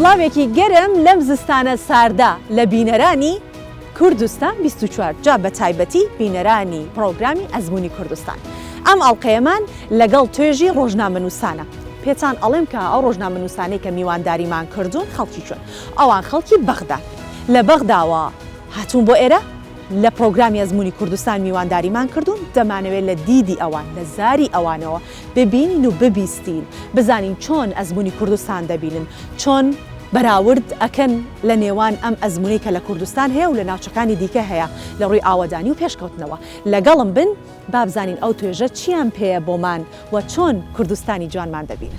سڵاوێکی گەرم لەم زستانە ساردە لە بینەرانی کوردستان بیست و چوار جا بە تایبەتی بینەرانی پڕۆگرامی ئەزموونی کوردستان ئەم ئەڵقەیەمان لەگەڵ توێژی ڕۆژنامەنووسانە پێتان ئەڵێم کە ئەو ڕۆژنامەنووسانەی کە میوانداریمان کردوون خەڵکی کوێن ئەوان خەڵکی بەغدان لە بەغداوە هاتوون بۆ ئێرە لە پڕۆگرامی ئەزموونی کوردستان میوانداریمان کردوون دەمانەوێت لە دیدی ئەوان لە زاری ئەوانەوە ببینین و ببیستین، بزانین چۆن ئەزموونی کوردستان دەبینن، چۆن بەراورد ئەکەن لە نێوان ئەم ئەزموونەی کە لە کوردستان هەیە و لە ناوچەکانی دیکە هەیە لە ڕووی ئاوەدانی و پێشکەوتنەوە. لەگەڵم بن با بزانین ئەو توێژە چییان پێیە بۆمان و چۆن کوردستانی جوانمان دەبینن.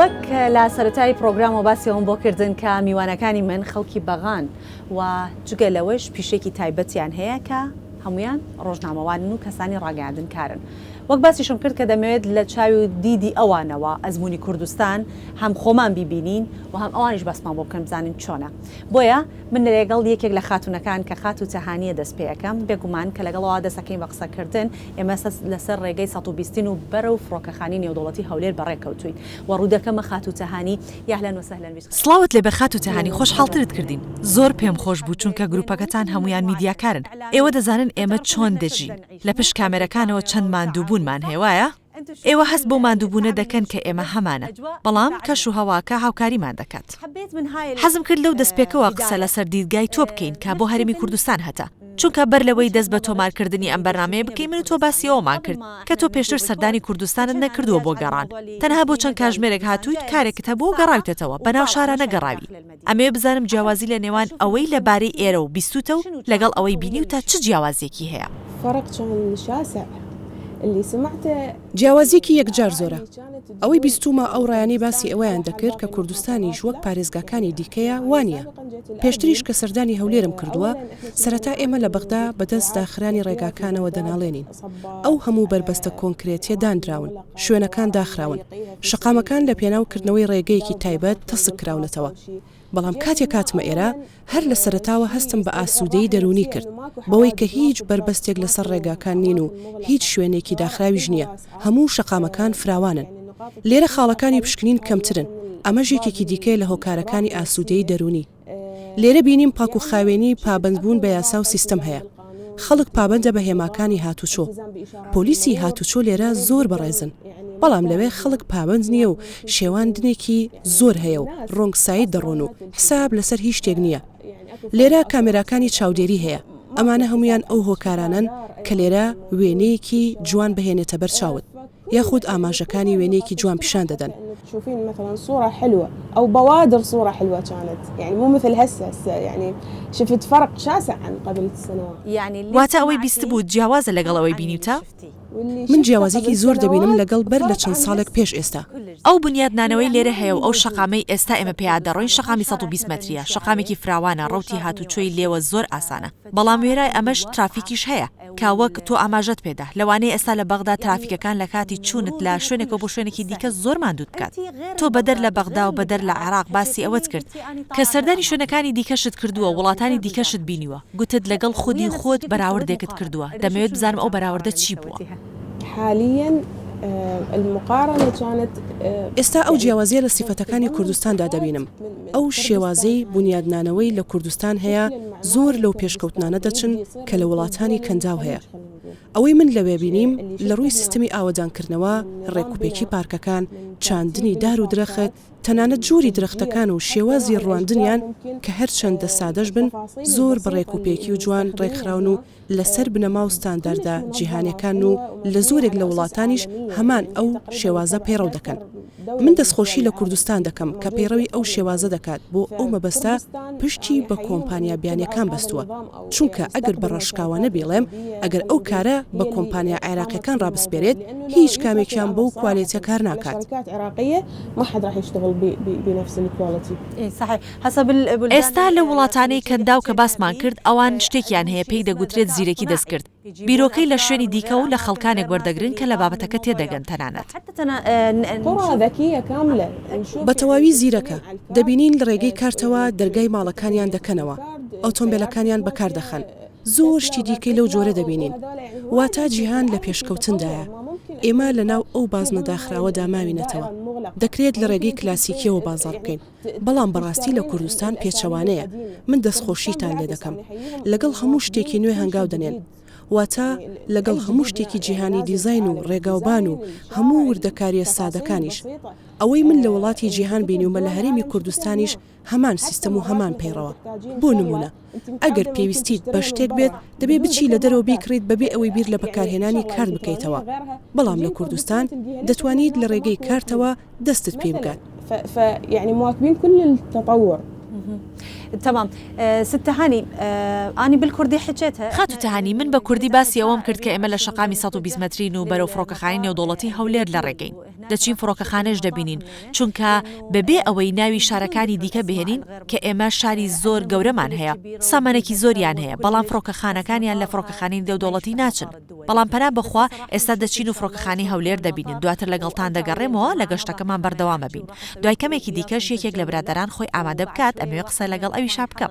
وەک لە سەرەتای پرۆگرامەوە باسیەوەم بۆ کردن کە میوانەکانی من خەڵکی بەغان و جگە لەوەش پیشێکی تایبەتیان هەیە کە هەمویان ڕۆژنامەوانن و کەسانی ڕاگەیاندن کارن وەک باسیشم کرد کە دەمەوێت لە چاوی و دیدی ئەوانەوە ئەزموونی کوردستان هەم خۆمان بیبینین و هەم ئەوانیش باسمان بۆ بکەن بزانین چۆنە. بۆیە من لەگەڵ یەکێک لە خاتوونەکان کە خاتوو تەهانییە دەست پێ ئەکەم، بێگومان کە لەگەڵەوە دەست ئەکەین بە قسە کردن، ئێمە لەسەر ڕێگەی سەد و بیستین و بەرەو فڕۆکەخانەی نێودەوڵەتی هەولێر بەڕێ کەوتووین و ڕوو دەکەمە خاتوو تەهانی، یەهلەن و سەهلەن بیک. سڵاوت لێبێ خاتوو تەهانی خۆشحاڵترت کردین، زۆر پێم خۆش بوو چونکە گرووپەکەتان هەموویان میدیاکارن، ئێوە دەزانن ئێمە چۆن دەژین، لە پشت کامێرەکانەوە چەند ماندووبوونمان هەیە، وایە؟ ئێوە هەست بەو ماندووبوونە دەکەن کە ئێمە هەمانە، بەڵام کەش و هەواکە هاوکاریمان دەکات. حەزم کرد لەو دەستپێکەوە قسە لەسەر دیدگای تۆ بکەین کە بۆ هەرێمی کوردستان هەتە، چونکە بەر لەوەی دەست بە تۆمارکردنی ئەم بەرنامەیە بکەین من و تۆ باسی ئەوەمان کرد کە تۆ پێشتر سەردانی کوردستانت نەکردووە بۆ گەڕان، تەنها بۆ چەند کاژمێرێک هاتوویت، کارێکت هەبووە و گەڕاویتەتەوە، بەناو شارا نەگەڕاوی. ئەمەوێ بزانم جیاوازی لە نێوان ئەوەی لە بارەی ئێرە و بیستوتە و لەگەڵ ئەوەی بینیوتە چ جیاوازیەکی هەیە؟ فرق كان شاسع اللي سمعته. جیاوازیەکی یەکجار زۆرە. ئەوەی بیستومە ئەو ڕایانەی باسی ئەوەیان دەکرد کە کوردستانیش وەک پارێزگاکانی دیکەیە وا نیە. پێشتریش کە سەردانی هەولێرم کردوە سەرەتا ئێمە لە بەغدا بە دەست داخرانی ڕێگاکانەوە دەناڵێنین. ئەو هەموو بەربەستە کۆنکرێتیە دانراون. شوێنەکان داخراون، شەقامەکان لە پێناو کردنەوەی ڕێگەیەکی تایبەت تەسک کراونەتەوە، بەڵام کاتێک هاتمە ئێرە هەر لە سەرەتاوە هەستم بە ئاسوودەیی دەروونی کرد بەوەی کە هیچ بەربەستێک لەسەر ڕێگاکان نین و هیچ شوێنێکی داخراویش نییە، هەموو شەقامەکان فراوانن. لێرە خاڵەکانی پشکنین کەمترن، ئەمەش یەکێکی دیکەیە لە هۆکارەکانی ئاسوودەیی دەروونی. لێرە بینیم پاک و خاوێنی پابەند بوون بە یاسا و سیستەم هەیە. خەڵک پابەندە بە هێماکانی هاتوچۆ. پۆلیسی هاتوچۆ لێرە زۆر بەڕێزن. بەڵام لەوێ خەڵک پابەند نییە و شێوان دنێکی زۆر هەیە و ڕۆنگ ساید دەڕۆن و حساب لەسەر هیچ شتێک نییە. لێرە کامێراکانی چاودێری هەیە. ئەمانە هەموویان ئەو هۆکارانەن کە لێرە وێنەیەکی جوان بهێنێتە بەر چاوت. یاخود ئاماژەکانی وێنەیەکی جوان پیشان دەدەن. واتە ئەوەی بیستبووت جیاوازە لەگەڵ ئەوەی بینیوتە؟ من جیاوازییەکی زۆر دەبینم لەگەڵ بەر لە چەند ساڵێک پێش ئێستا. ئەو بنیاتنانەوەی لێرە هەیە و ئەو شەقامەی ئێستا ئێمە پێیا دەڕۆین شەقامی سەد و بیست مەترییە، شەقامێکی فراوانە، ڕەوتی هاتوچۆی لێوە زۆر ئاسانە، بەڵام وێرای ئەمەش ترافیکیش هەیە، کە وەک تۆ ئاماژەت پێدا، لەوانەیە ئێستا لە بەغدا ترافیکەکان لە کاتی چوونت لە شوێنێکەوە بۆ شوێنێکی دیکە زۆر ماندووت بکات. تۆ بەدەر لە بەغدا و بەدەر لە عێراق باسی ئەوەت کرد، کە سەردانی شوێنەکانی دیکەشت کردووە، وڵاتانی دیکەشت بینیوە، گوتت لەگەڵ خودی خۆت بەراوردێکت کردووە، دەمەوێت بزانم ئەو بەراوردە چی بووە؟ ئێستا ئەو جیاوازییە لە سیفەتەکانی کوردستاندا دەبینم. ئەو شێوازەی بونیادنانەوەی لە کوردستان هەیە زۆر لەو پێشکەوتنانە دەچن کە لە وڵاتانی کەنداو هەیە. ئەوەی من لەوێ بینیم لە ڕووی سیستمی ئاوەدانکردنەوە، ڕێکوپێکی پارکەکان، چاندنی دار و درەخت، تەنانەت جۆری درەختەکان و شێوازی ڕواندنیان کە هەرچەندە سادەش بن زۆر بە ڕێکوپێکی و جوان ڕێکخراون و لەسەر بنەما و ستانداردە جیهانیەکان و لە زۆرێک لە وڵاتانیش هەمان ئەو شێوازە پەیڕەو دەکەن من دەستخۆشی لە کوردستان دەکەم کە پەیڕەوی ئەو شێوازە دەکات بۆ ئەو مەبەستە پشتی بە کۆمپانیا بیانیەکان بەستووە چونکە ئەگەر بە ڕاشکاوانە بیڵێم ئەگەر ئەو کارە بە کۆمپانیا عێراقیەکان ڕابسپێرێت هیچ کامێکیان بەو کوالێتیە کار ناکات. ئێستا لەو وڵاتانەی کەنداو کە باسمان کرد ئەوان شتێکیان هەیە پێی دەگوترێت زیرەکی دەستکرد بیرۆکەی لە شوێنی دیکە و لە خەڵکانێک وەردەگرن کە لە بابەتەکە تێدەگەن تەنانەت بە تەواوی زیرەکە، دەبینین ڕێگەی کارتەوە دەرگای ماڵەکانیان دەکەنەوە، ئۆتۆمبێلەکانیان بەکاردەخەن، زۆر شتی دیکەی لەو جۆرە دەبینین. واتە جیهان لە پێشکەوتندایە، ئێمە لەناو ئەو بازنە داخراوەدا ماوینەتەوە، دەکرێت لە ڕێگەی کلاسیکییەوە بازاڕ بکەین. بەڵام بەڕاستی لە کوردستان پێچەوانەیە، من دەستخۆشیتان لێ دەکەم، لەگەڵ هەموو شتێکی نوێ هەنگاو دەنێن، واتە لەگەڵ هەموو شتێکی جیهانی دیزاین و ڕێگاوبان و هەموو وردەکارییە سادەکانیش. ئەوەی من لە وڵاتی جیهان بینیومە لە هەرێمی کوردستانیش هەمان سیستەم و هەمان پەیڕەوە. بۆ نموونە. ئەگەر پێویستیت بە شتێک بێت دەبێت بچی لە دەرەوە بیکڕیت بەبێ ئەوەی بیر لە بەکارهێنانی کارت بکەیتەوە بەڵام لە کوردستان دەتوانیت لە ڕێگەی کارتەوە دەستت پێ بگات یعنی مواکبین کل تەواوە تمام ست تهاني ئانی بالکوردی حچێت خاتو تهانی من بە کوردی باسی ئەوەم کرد کە ئێمە لە شەقامی 120 مترین و بەرەو فڕۆکەخانی نێودەوڵەتی هەولێر لە ڕێگەین دەچین فڕۆکەخانەش دەبینین، چونکە بەبێ ئەوەی ناوی شارەکانی دیکە بهێنین، کە ئێمە شاری زۆر گەورەمان هەیە، سامانێکی زۆریان هەیە، بەڵام فڕۆکەخانەکانیان لە فڕۆکەخانەی نێودەوڵەتی ناچن، بەڵام پەنا بەخوا ئێستا دەچین و فڕۆکەخانەی هەولێر دەبینن، دواتر لەگەڵتان دەگەڕێمەوە، لە گەشتەکەمان بەردەوام ئەبین، دوای کەمێکی دیکەش یەکێک لە برادەران خۆی ئامادە بکات، ئەمەوێ قسە لەگەڵ ئەویشا بکەم.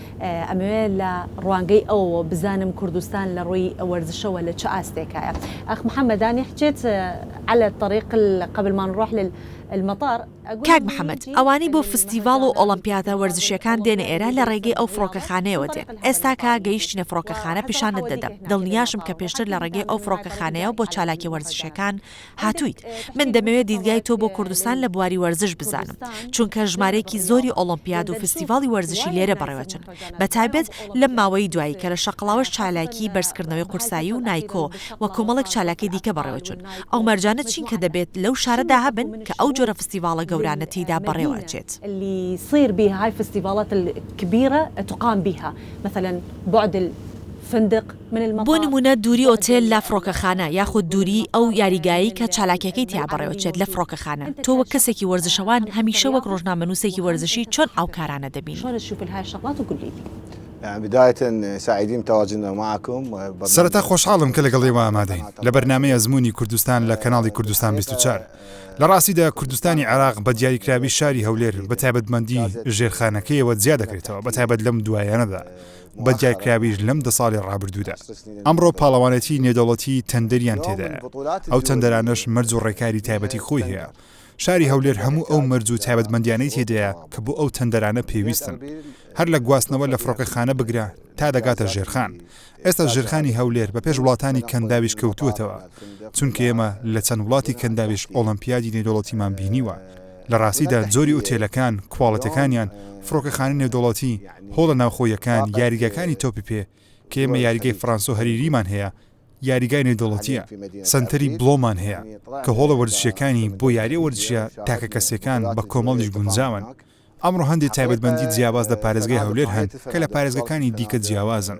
ئەمەوێ لە ڕوانگەی ئەوەوە بزانم کوردستان لە ڕووی وەرزشەوە لە چ ئاستێکایە؟ ئەخ محمد انا حجيت على الطريق قبل ما نروح للمطار اقول کاک محمد، ئەوانەی بۆ فستیڤاڵ و ئۆڵەمپیادە وەرزشیەکان دێنە ئێرە لە ڕێگەی ئەو فڕۆکەخانەیەوە دێن، ئێستا کە گەیشتینە فڕۆکەخانە پیشانت دەدەم، دڵنیاشم کە پێشتر لە ڕێگەی ئەو فڕۆکەخانەیەوە بۆ چالاکیە وەرزشیەکان هاتوویت، من دەمەوێت دیدگای تۆ بۆ کوردستان لە بواری وەرزش بزانم، چونکە ژمارەیەکی زۆری ئۆڵۆمپیاد و فستیڤاڵی وەرزشی لێرە بەڕێوەچن، بەتایبەت لەم ماوەی دوایی کە لە شەقڵاوەش چالاکیی بەرزکردنەوەی قورسایی و نایکۆ و کۆمەڵێک چالاکی دیکە بەڕێوەچوون، ئەو مەرجانە چین کە دەبێت لەو شارەدا هەبن کە ئەو جۆرە فستیڤاڵە گەورانە تێیدا بەڕێوەئەچێت؟ بۆ نموونە دووری ئۆتێل لە فڕۆکەخانە، یاخود دووریی ئەو یاریگایەی کە چالاکییەکەی تیا بەڕێوەچێت لە فڕۆکەخانە. تۆ وەک کەسێکی وەرزشەوان، هەمیشە وەک ڕۆژنامەنووسێکی وەرزشی چۆن ئەو کارانە دەبینی؟ بداية سعيدين بتواجدنا معكم ببرنامج. سەرەتا خۆشحاڵم کە لەگەڵ ئێوە ئامادەین لە بەرنامەی ئەزموونی کوردستان لە کەناڵی کوردستان بیست و چوار. لە ڕاستیدا کوردستانی عێراق بە دیاریکراوی شاری هەولێر بە تایبەتمەندی ژێرخانەکەیەوە جیا دەکرێتەوە بە تایبەت لەم دواییانەدا. بە دیارکراویش لەم دە ساڵی ڕابردوودا ئەمڕۆ پاڵەوانەتی نێدەوڵەتی تەندەریان تێدایە ئەو تەندەرانەش مەرج و ڕێکاری تایبەتی خۆی هەیە شاری هەولێر هەموو ئەو مەرج و تایبەتمەندیانەی تێدەیە کە بۆ ئەو تەندەرانە پێویستن هەر لە گواستنەوە لە فڕۆکەخانە بگرە تا دەگاتە ژێرخان ئێستا ژێرخانی هەولێر بە پێش وڵاتانی کەنداویش کەوتووەتەوە چونکە ئێمە لە چەند وڵاتی کەنداویش ئۆڵمپیادی نێدەوڵەتیمان بینیوە لە ڕاستیدا جۆری ئوتێلەکان، کواڵێتەکانیان، فڕۆکەخانە نێودەوڵەتی، هۆڵە ناوخۆییەکان، یاریگاکانی تۆپی پێ، کە ئێمە یاریگای فڕانسۆ هەریریمان هەیە، یاریگای نێودەوڵەتییە، سەنتەری بڵۆمان هەیە، کە هۆڵە وەرزشییەکانی بۆ یارییە وەرزشییە تاکەکەسییەکان بە کۆمەڵیش گونجاون. ئەمڕۆ هەندێ تایبەتمەندی جیاواز لە پارێزگای هەولێر هەن کە لە پارێزگەکانی دیکە جیاوازن.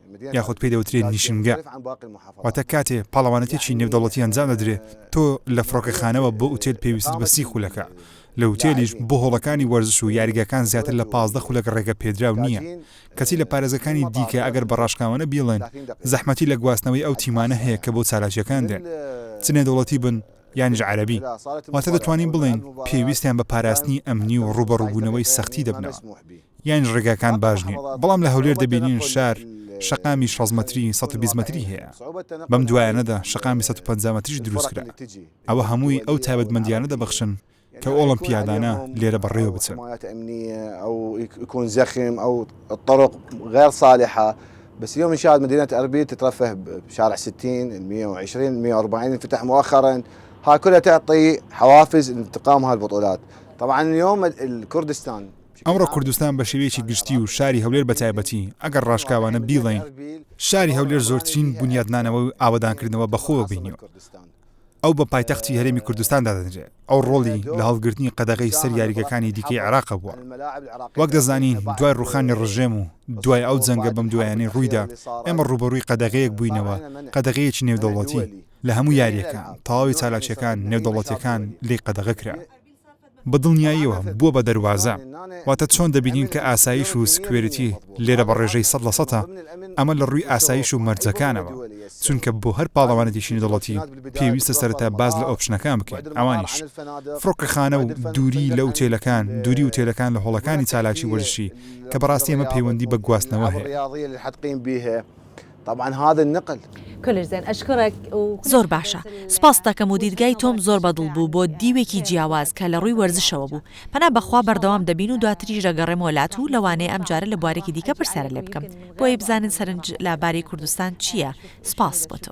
یاخود پێی دەوترێ نیشنگە، واتە کاتێ پاڵەوانێتیی نێودەوڵەتی ئەنجام دەدرێ، تۆ لە فڕۆکەخانەوە بۆ ئوتێل پێویستت بە سی خولەکە، لە ئوتێلیش بۆ هۆڵەکانی وەرزش و یاریگاکان زیاتر لە پازدە خولەک ڕێگە پێدراو نییە، کەچی لە پارێزگەکانی دیکە ئەگەر بە ڕاشکاوانە بیڵێن زەحمەتی لە گواستنەوەی ئەو تیمانە هەیە کە بۆ چالاکییەکان دێن، چ نێودەوڵەتی بن یانیش عەرەبی، واتە دەتوانین بڵێین پێویستیان بە پاراستنی ئەمنی و ڕووبەڕووبوونەوەی سەختی دەبنەوە. یانی ڕێگاکان باش نین بەڵام لە هەولێر دەبینین شار شەقامی شەست مەتری سەد و بیست مەتری هەیە بەم دوایانەدا شەقامی سەد و پەنجا مەتریش دروستکرا ئەوە هەمووی ئەو تایبەتمەندیانە دەبەخشن کە ئەو ئۆڵەمپیادانە لێرە بەڕێوە بچن. ئەمڕۆ کوردستان بە شێوەیەکی گشتی و شاری هەولێر بە تایبەتی، ئەگەر ڕاشکاوانە بیڵێین، شاری هەولێر زۆرترین بونیادنانەوە و ئاوەدانکردنەوە بە خۆوە بینیوە. ئەو بە پایتەختی هەرێمی کوردستان دادەنرێ، ئەو ڕۆڵی لە هەڵگرتنی قەدەغەی سەر یاریگەکانی دیکەی عێراق هەبووە. وەک دەزانین دوای ڕووخانی ڕژێم و دوای ئەو جەنگە بەمدوایانەی ڕوویدا، ئێمە ڕووبەڕووی قەدەغەیەک بووینەوە، قەدەغەیەکی نێودەوڵەتی، لە هەموو یارییەکان، تەواوی چالاکییەکان نێودەوڵەتییەکان لێی قەدەغە کرا. بە دڵنیاییەوە بووە بە دەروازە. واتە چۆن دەبینین کە ئاسایش و سکوێریتی لێرە بە ڕێژەی سەد لە سەدە، ئەمە لە ڕووی ئاسایش و مەرجەکانەوە، چونکە بۆ هەر پاڵەوانێتیی نێودەوڵەتی پێویستە سەرەتا باس لە ئۆپشنەکان بکەین، ئەوانیش، فڕۆکەخانە و دووریی لە ئوتێلەکان، دووریی ئوتێلەکان لە هۆڵەکانی چالاکیی وەرزشی، کە بەڕاستی ئەمە پەیوەندی بە گواستنەوە هەیە. طبعا هذا النقل. كلش زين اشكرك و. زۆر باشە سپاست دەکەم و دیدگای تۆم زۆر بەدڵ بوو بۆ دیوێکی جیاواز کە لە ڕووی وەرزشەوە بوو پەنا بەخوا بەردەوام دەبین و دواتریش دەگەڕێمەوە لات و لەوانەیە ئەمجارە لە بوارێکی دیکە پرسیارە لێبکەم بۆ ی بزانن سەرنج لە باری کوردستان چییە سپاس بۆ تۆ.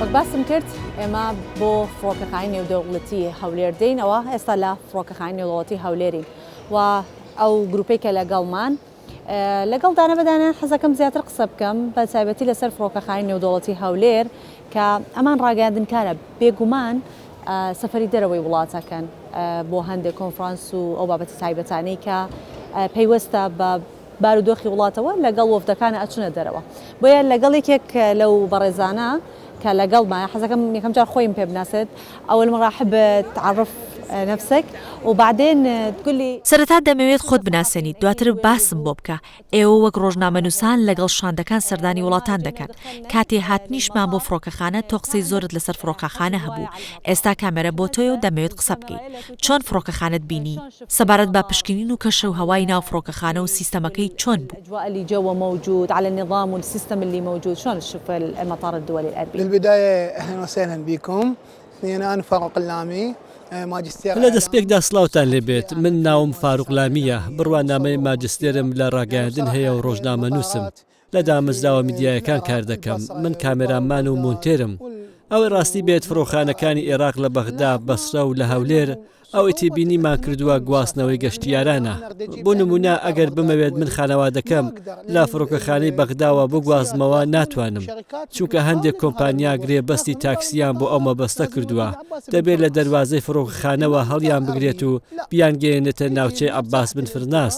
وەک باسم کرد ئێمە بۆ فڕۆکەخانی نێودەوڵەتی هەولێر دێین ئەوە ئێستا لە فڕۆکەخانی نێودەوڵەتی هەولێرین و ئەو گروپەی کە لەگەڵمان لەگەڵ دانە بەدانە حەزەکەم زیاتر قسە بکەم بە سایبەتی لەسەر فڕۆکەخانی نێودەوڵەتی هەولێر کە ئەمان ڕاگەاندنکارە بێگومان سەفری دەرەوەی وڵاتەکەن بۆ هەندێک کۆنفرانس و ئەو بابەتی تایبەتانەی کە پەیوەستە بە بارودۆخی وڵاتەوە لەگەڵ وەفدەکانە ئەچنە دەرەوە بۆیە لەگەڵ یەکێک لەو بەڕێزانە کە لەگەڵمایە حەزەکەم یەکەم جار خۆیم پێ بناسێت اول مرە احب تعرف نفسک و بعدین تقولی سەرەتا دەمەوێت خۆت بناسێنیت دواتر باسم بۆ بکە ئێوە وەک ڕۆژنامەنووسان لەگەڵ شاندەکان سەردانی وڵاتان دەکەن کاتێ هاتنیشمان بۆ فڕۆکەخانە تۆ قسەی زۆرت لەسەر فڕۆکاخانە هەبوو ئێستا کامێرە بۆ تۆیە و دەمەوێت قسە بکەی چۆن فڕۆکەخانەت بینی؟ سەبارەت بە پشکنین و کەشوهەوای ناو فڕۆکەخانە و سیستەمەکەی چۆن بوو؟ لە دەستپێکدا سڵاوتان لێ بێت، من ناوم فاروق لامییە، بڕوانامەی ماجستێرم لە ڕاگەیاندن هەیە و ڕۆژنامەنووسم. لە دامەزراوە میدیایەکان کار دەکەم، من کامێراممان و مۆنتێرم. ئەوەی ڕاستی بێت فڕۆخانەکانی ئێراق لە بەغدا، بەسرە و لە هەولێر ئەوەی تێبینیمان کردووە گواستنەوەی گەشتیارانە. بۆ نموونە ئەگەر بمەوێت من خانەوادەکەم لە فڕۆکەخانەی بەغداوە بگوازمەوە ناتوانم، چونکە هەندێک کۆمپانیا گرێبەستی تاکسییان بۆ ئەو مەبەستە کردووە، دەبێت لە دەروازەی فڕۆکەخانەوە هەڵیانبگرێت و بیانگەیەنێتە ناوچەی عەباس بن فرناس.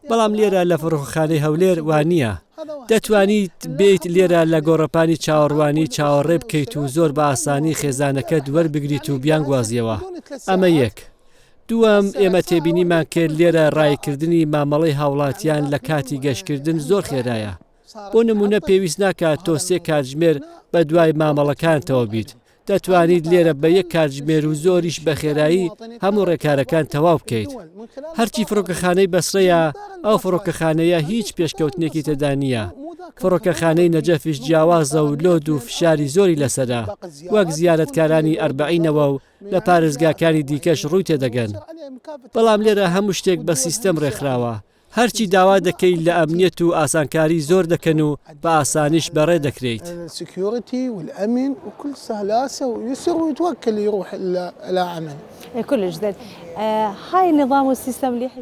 بەڵام لێرە لە فڕۆکەخانەی هەولێر وا نییە دەتوانیت بیت لێرە لە گۆڕەپانی چاوەڕوانی چاوەڕێ بکەیت و زۆر بە ئاسانی خێزانەکەت وەربگریت و بیانگوازیەوە ئەمە یەک دووەم ئێمە تێبینیمان کرد لێرە ڕایکردنی مامەڵەی هاوڵاتیان لە کاتی گەشتکردن زۆر خێرایە بۆ نمونە پێویست ناکات تۆ سێ کاتژمێر بە دوای مامەڵەکانتەوە بیت دەتوانیت لێرە بە یەک کاتژمێر و زۆریش بە خێرایی هەموو ڕێکارەکان تەواو بکەیت هەرچی فڕۆکەخانەی بەسرەیە ئەو فڕۆکەخانەیە هیچ پێشکەوتنێکی تێدا نییە فڕۆکەخانەی نەجەفیش جیاوازە و لۆد و فشاری زۆری لەسرە وەک زیارەتکارانی ئەربعینەوە و لە پارێزگاکانی دیکەش ڕووی تێدەگەن بەڵام لێرە هەموو شتێک بە سیستەم ڕێکخراوە هەرچی داوا دەکەیت لە ئەمنیەت و ئاسانکاری زۆر دەکەن و بە ئاسانیش بەڕێ دەکرێیت.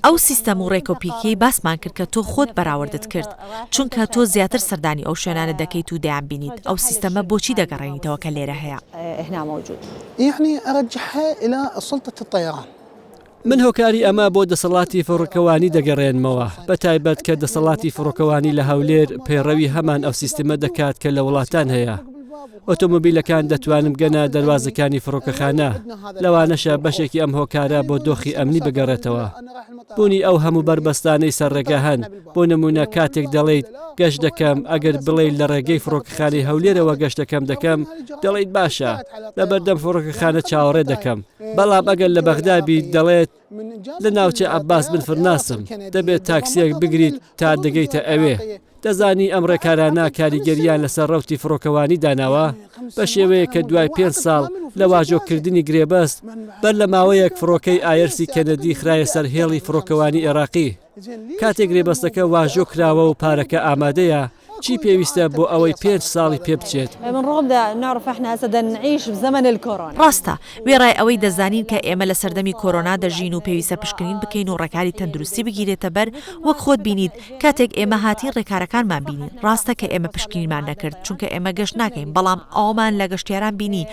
ئەو سیستەم و ڕێکە و پیکەی باسمان کرد کە تۆ خۆت بەراوردت کرد، چونکە تۆ زیاتر سەردانی ئەو شوێنانە دەکەیت و دەیانبینیت، ئەو سیستەمە بۆچی دەگەڕێنیتەوە کە لێرە هەیە؟ من هۆکاری ئەمە بۆ دەسەڵاتی فڕۆکەوانی دەگەڕێنمەوە، بە تایبەت کە دەسەڵاتی فڕۆکەوانی لە هەولێر پەیڕەوی هەمان ئەو سیستمە دەکات کە لە وڵاتان هەیە. ئۆتۆمۆبیلەکان دەتوانن بگەنە دەروازەکانی فڕۆکەخانە، لەوانەشە بەشێکی ئەم هۆکارە بۆ دۆخی ئەمنی بگەڕێتەوە. بوونی ئەو هەموو بەربەستانەی سەر ڕێگا هەن، بۆ نموونە کاتێک دەڵێیت گەشت دەکەم، ئەگەر بڵێیت لە ڕێگەی فڕۆکەخانەی هەولێرەوە گەشتەکەم دەکەم، دەڵێیت باشە، لەبەردەم فڕۆکەخانە چاوەڕێ دەکەم. بەڵام ئەگەر لە بەغدا بیت دەڵێت لە ناوچەی عەباس بن فرناسم، دەبێت تاکسییەک بگریت تا دەگەیتە ئەوێ. دەزانی ئەم ڕێکارانە کاریگەرییان لەسەر ڕەوتی فڕۆکەوانی داناوە، بە شێوەیەک کە دوای پێنج ساڵ لە واژۆکردنی گرێبەست، بەر لە ماوەیەک فڕۆکەی ئایرسی کەنەدی خرایە سەر هێڵی فڕۆکەوانی ئێراقی. کاتێک گرێبەستەکە واژۆ کراوە و پارەکە ئامادەیە، چی پێویستە بۆ ئەوەی پێنج ساڵی پێ بچێت؟ ڕاستە، وێڕای ئەوەی دەزانین کە ئێمە لە سەردەمی کۆرۆنا دەژین و پێویستە پشکنین بکەین و ڕێکاری تەندروستی بگیرێتە بەر، وەک خۆت بینیت کاتێک ئێمە هاتین ڕێکارەکانمان بینی، ڕاستە کە ئێمە پشکنینمان نەکرد چونکە ئێمە گەشت ناکەین بەڵام ئەوەمان لە گەشتیاران بینی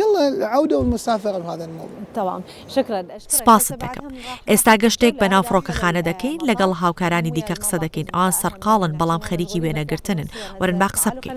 یەڵا العودە والمسافرە بە هذا الموضوع. تەوام شکرت سپاست دەکەم ئێستا گەشتێک بەناو فڕۆکەخانە دەکەین لەگەڵ هاوکارانی دیکە قسە دەکەین ئەوان سەرقاڵن بەڵام خەریکی وێنەگرتنن وەرن با قسە بکەین.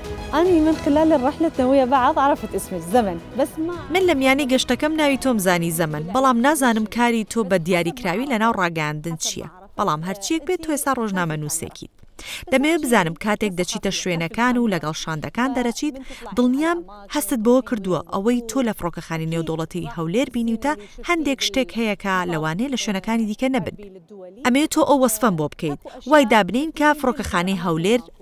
ئانی من خلال الرحلە نویە بعض عرفت اسمج زمن بس ما. من لە میانی گەشتەکەم ناوی تۆم زانی زەمەن بەڵام نازانم کاری تۆ بە دیاری کراوی لەناو ڕاگەیاندن چیە بەڵام هەرچیەک بێت تۆ ئێستا ڕۆژنامە نوسێکیت دەمەوێت بزانم کاتێک دەچیتە شوێنەکان و لەگەڵ شاندەکان دەرەچیت دڵنیام هەستت بەوە کردووە ئەوەی تۆ لە فڕۆکەخانی نێودەوڵەتی هەولێر بینیوتە هەندێک شتێک هەیە کە لەوانەیە لە شوێنەکانی دیکە نەبن ئەمەوێت تۆ ئەو وەسفەم بۆ بکەیت وای دابنێین کە فڕۆکەخانەی هەولێر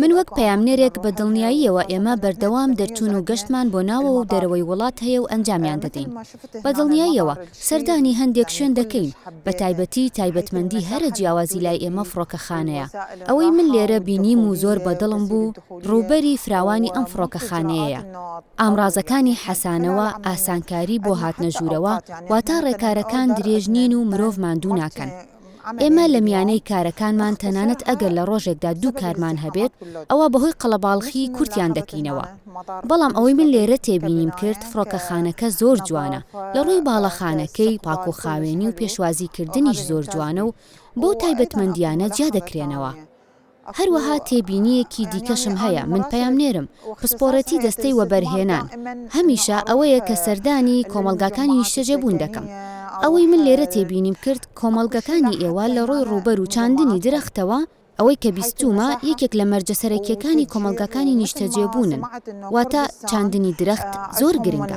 من وەک پەیامنێرێک بە دڵنیاییەوە ئێمە بەردەوام دەرچوون و گەشتمان بۆ ناوەوە و دەرەوەی وڵات هەیە و ئەنجامیان دەدەین. بە دڵنیاییەوە سەردانی هەندێک شوێن دەکەین، بە تایبەتی تایبەتمەندی هەرە جیاوازی لای ئێمە فڕۆکەخانەیە. ئەوەی من لێرە بینیم و زۆر بە دڵم بوو، رووبەری فراوانی ئەم فڕۆکەخانەیەیە. ئامڕازەکانی حەسانەوە، ئاسانکاری بۆ هاتنە ژوورەوە، واتا رێکارەکان درێژ نین و مرۆڤ ماندوو ناکەن. ئێمە لە میانەی کارەکانمان تەنانەت ئەگەر لە ڕۆژێکدا دوو کارمان هەبێت ئەوا بەهۆی قەڵەباڵخیی کورتیان دەکەینەوە. بەڵام ئەوەی من لێرە تێبینیم کرد فڕۆکەخانەکە زۆر جوانە، لە ڕووی باڵەخانەکەی، پاکوخاوێنی و پێشوازیکردنیش زۆر جوانە و بەو تایبەتمەندییانە جیا دەکرێنەوە. هەروەها تێبینییەکی دیکەشم هەیە، من پەیامنێرم، پسپۆڕێتی دەستەی وەبەرهێنان، هەمیشە ئەوەیە کە سەردانی کۆمەڵگاکانی نیشتەجێبوون دەکەم. ئەوەی من لێرە تێبینیم کرد، کۆمەڵگەکانی ئێوە لە ڕووی ڕووبەر و چاندنی درەختەوە، ئەوەی کە بیستوومە، یەکێک لە مەرجە سەرەکییەکانی کۆمەڵگاکانی نیشتەجێبوونن، واتە چاندنی درەخت زۆر گرنگە.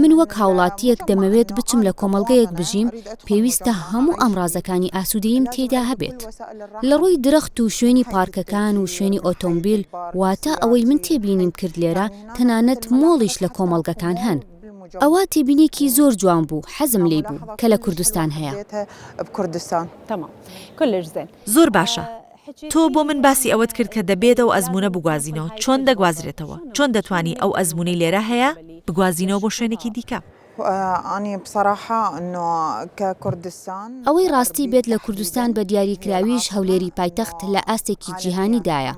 من وەک هاوڵاتیەک دەمەوێت بچم لە کۆمەڵگەیەک بژیم پێویستە هەموو ئامڕازەکانی ئاسوودەیم تێدا هەبێت لە ڕووی درەخت و شوێنی پارکەکان و شوێنی ئۆتۆمبیل واتە ئەوەی من تێبینیم کرد لێرە تەنانەت مۆڵیش لە کۆمەڵگەکان هەن ئەوە تێبینێکی زۆر جوان بوو حەزم لێی بوو کە لە کوردستان هەیە. زۆر باشە. تۆ بۆ من باسی ئەوەت کرد کە دەبێت ئەو ئەزموونە بگوازینەوە، چۆن دەگوازرێتەوە؟ چۆن دەتوانی ئەو ئەزموونەی لێرە هەیە بگوازینەوە بۆ شوێنێکی دیکە؟ ئەوەی ڕاستی بێت لە کوردستان بە دیاریکراویش هەولێری پایتەخت لە ئاستێکی جیهانی دایە.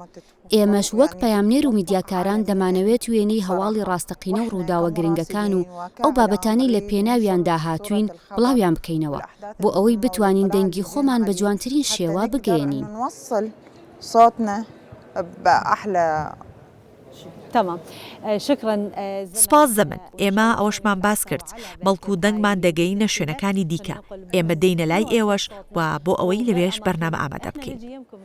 ئێمەش وەک پەیامنێر و میدیاکاران دەمانەوێت وێنەی هەواڵی ڕاستەقینە و ڕووداوە گرنگەکان و ئەو بابەتانەی لە پێناویاندا هاتووین بڵاویان بکەینەوە بۆ ئەوەی بتوانین دەنگی خۆمان بە جوانترین شێوە بگەیەنین. سپاس زەمەن، ئێمە ئەوەشمان باس کرد، بەڵکو دەنگمان دەگەیینە شوێنەکانی دیکە، ئێمە دێینە لای ئێوەش و بۆ ئەوەی لەوێش بەرنامە ئامادە بکەین.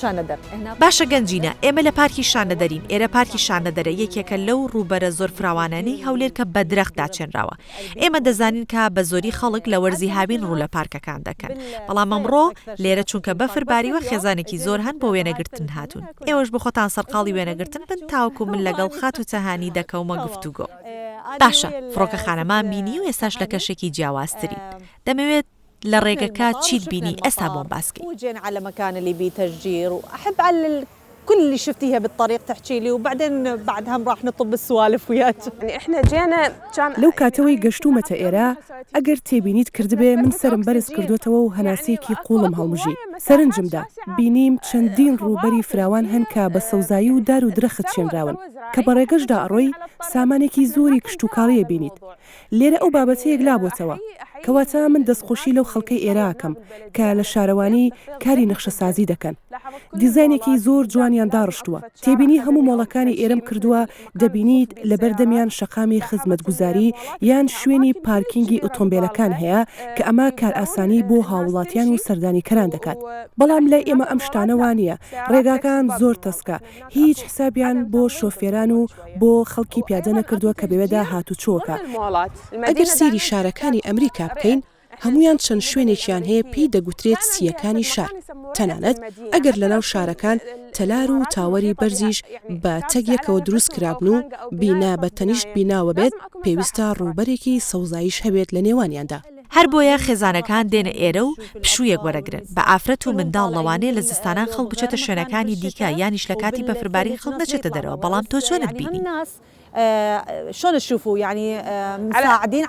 شانەدەر. باشە گەنجینە ئێمە لە پارکی شانەدەرین ئێرە پارکی شانەدەرە یەکێکە لەو ڕووبەرە زۆر فراوانانەی هەولێر کە بە درەخت داچێنراوە ئێمە دەزانین کە بە زۆری خەڵک لە وەرزی هاوین ڕوو لە پارکەکان دەکەن بەڵام ئەمڕۆ لێرە چونکە بەفر باریوە خێزانێکی زۆر هەن بۆ وێنەگرتن هاتوون ئێوەش بخۆتان سەرقاڵی وێنەگرتن بن تاوەکو من لەگەڵ خاتوو تەهانی دەکەومە گفتوگۆ. باشە فڕۆکەخانەمان بینی و ئێستاش لە کەشێکی جیاوازترین. دەمەوێت. لە ڕێگەکە چیت بینی ئێستا بۆم باس کەی. وجێن عەلە مەکان اللە بی تشجیر و احب عەلە اللە کل اللە شفتیه بی الطریق تحچی لی وبعدین بعد هم راح نطلب بالسوالف ویاچ. لەو کاتەوەی گەشتوومەتە ئێرە ئەگەر تێبینیت کردبێ من سەرم بەرز کردۆتەوە و هەناسەیەکی قووڵم هەڵمژی سەرنجم دا بینیم چەندین ڕووبەری فراوان هەن کە بە سەوزایی و دار و درەخت چێنراون کە بە ڕێگەشدا ئەڕۆی سامانێکی زۆری کشتوکاڵیی ئەبینیت لێرە ئەو بابەتە یەکلا بۆتەوە. کەواتە من دەستخۆشی لەو خەڵکەی ئێرە ئەکەم کە لە شارەوانی کاری نەخشەسازی دەکەن. دیزاینێکی زۆر جوانیان داڕشتووە. تێبینی هەموو مۆڵەکانی ئێرەم کردووە دەبینیت لەبەر دەمیان شەقامی خزمەتگوزاری یان شوێنی پارکینگی ئوتۆمبێلەکان هەیە کە ئەمە کارئاسانی بۆ هاووڵاتیان و سەردانیکەران دەکات. بەڵام لای ئێمە ئەم شتانە وا نییە. ڕێگاکان زۆر تەسکە. هیچ حسابیان بۆ شۆفێران و بۆ خەڵکی پیادە نەکردووە کە بەوێدا هاتوچۆکە. ئەگەر سەیری شارەکانی ئەمریکا بکەین هەموویان چەند شوێنێکیان هەیە پێی دەگوترێت سییەکانی شار، تەنانەت ئەگەر لەناو شارەکان تەلار و تاوەری بەرزیش بە تەک یەکەوە دروست کرابن و بینا بە تەنیشت بیناوە بێت پێویستە ڕووبەرێکی سەوزاییش هەبێت لە نێوانیاندا. هەر بۆیە خێزانەکان دێنە ئێرە و پشوویەک وەرەگرن بە ئافرەت و منداڵ لەوانەیە لە زستانان خەڵک بچێتە شوێنەکانی دیکە یانیش لە کاتی بەفربارین خەڵک نەچێتە دەرەوە بەڵام تۆ چۆنت بینی؟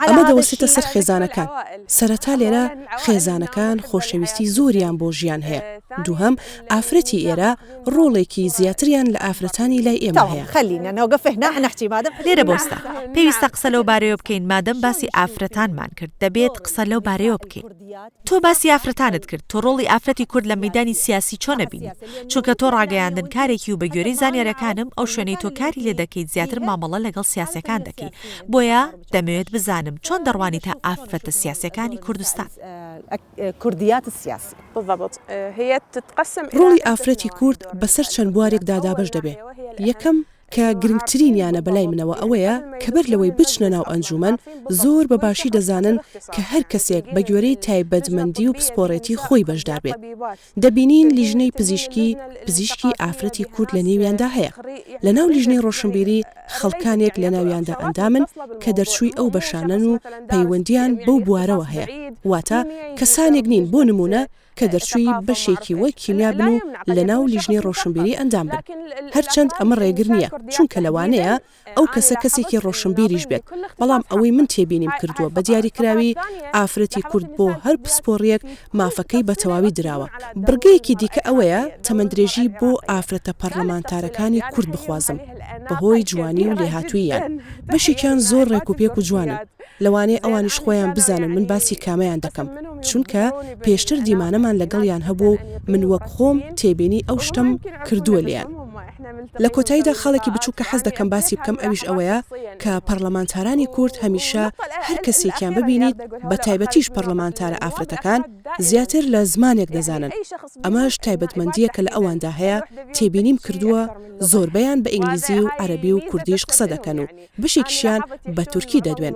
ئەمە دەوەستێتە سەر خێزانەکان سەرەتا لێرە خێزانەکان خۆشەویستی زۆریان بۆ ژیان هەیە دووهەم ئافرەتی ئێرە ڕۆڵێکی زیاتریان لە ئافرەتانی لای ئێمە هەیە. لێرە بۆستە پێویستە قسە لەو بارەیەوە بکەین، مادەم باسی ئافرەتانمان کرد، دەبێت قسە لەو بارەیەوە بکەین. تۆ باسی ئافرەتانت کرد، تۆ ڕۆڵی ئافرەتی کورد لە مەیدانی سیاسی چۆن ئەبینیت؟ چونکە تۆ ڕاگەیاندنکارێکی و بە گوێرەی زانیارییەکانم ئەو شوێنەی تۆ کاری لێ دەکەیت زیاتر مامەڵە لەگەڵ سیاسییەکان دەکەی، بۆیە دەمەوێت بزانم چۆن دەڕوانیتە ئافرەتە سیاسییەکانی کوردستان؟ کوردیات سیاسی. بالضبط هي تتقسم الى. ڕۆڵی ئافرەتی کورد بەسەر چەند بوارێکدا دابەش دەبێ، یەکەم، کە گرنگترینیانە بە لای منەوە ئەوەیە کە بەر لەوەی بچنە ناو ئەنجوومەن زۆر بە باشی دەزانن کە هەر کەسێک بە گوێرەی تایبەتمەندی و پسپۆڕێتی خۆی بەشدار بێت دەبینین لیژنەی پزیشکی پزیشکی ئافرەتی کورد لە نێویاندا هەیە، لە ناو لیژنەی ڕۆشنبیری خەڵکانێک لە ناویاندا ئەندامن کە دەرچووی ئەو بەشانەن و پەیوەندییان بەو بوارەوە هەیە، واتە کەسانێک نین بۆ نموونە کە دەرچووی بەشێکی وەک کیمیا بن و لە ناو لیژنەی ڕۆشنبیری ئەندام بن، هەرچەند ئەمە ڕێگر نییە چونکە لەوانەیە ئەو کەسە کەسێکی ڕۆشنبیریش بێت، بەڵام ئەوەی من تێبینیم کردووە بە دیاریکراوی ئافرەتی کورد بۆ هەر پسپۆڕیەک مافەکەی بە تەواوی دراوە. بڕگەیەکی دیکە ئەوەیە تەمەندرێژی بۆ ئافرەتە پەڕلەمانتارەکانی کورد بخوازم بەهۆی جوانی و لێهاتووییان. بەشێکیان زۆر ڕێک و پێک و جوانن، لەوانەیە ئەوانیش خۆیان بزانن من باسی کامەیان دەکەم، چونکە پێشتر دیمانەمان لەگەڵیان هەبووە و من وەک خۆم تێبینی ئەو شتەم کردووە لێیان. لە کۆتاییدا خاڵێکی بچووک کە حەز دەکەم باسی بکەم ئەویش ئەوەیە کە پەڕڵەمانتارانی کورد هەمیشە هەر کەسێکیان ببینیت بە تایبەتیش پەڕڵەمانتارە ئافرەتەکان زیاتر لە زمانێک دەزانن ئەمەش تایبەتمەندییەکە لە ئەواندا هەیە تێبینیم کردووە زۆربەیان بە ئینگلیزی و عەرەبی و کوردیش قسە دەکەن و بەشێکیشیان بە تورکی دەدوێن.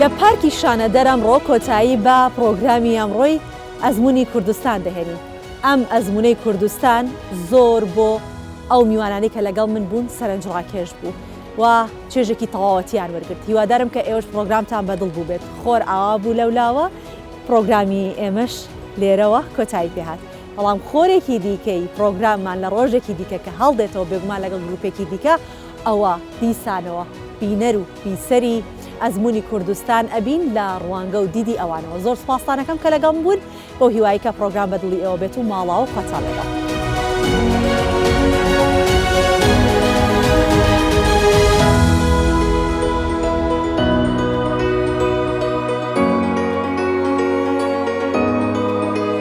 لە پارکی شانەدەر ئەمڕۆ کۆتایی بە پڕۆگرامی ئەمڕۆی ئەزموونی کوردستان دەهێنین ئەم ئەزمونەی کوردستان زۆر بۆ ئەو میوانانی کە لەگەڵ من بوون سەرنجڕاکێش بوو و چێژێکی تەواوەتیان وەرگرت هیوادارم کە ئێوەش پرۆگرامتان بەدڵ بوو بێت خۆر ئاوا بوو لەولاوە پرۆگرامی ئێمەش لێرەوە کۆتایی پێهات بەڵام خۆرێکی دیکەی پرۆگراممان لە ڕۆژێکی دیکە کە هەڵدێتەوە بێگومان لەگەڵ گروپێکی دیکە ئەوە دیسانەوە بینەر و بیسەری ئەزمونی کوردستان ئەبین لە ڕوانگە و دیدی ئەوانەوە زۆر سوپاستانەکەم کە لەگەڵم بوون بەو هیوایی کە پرۆگرام بە دڵی ئێوە بێت و ماڵاو و پەتا بێت.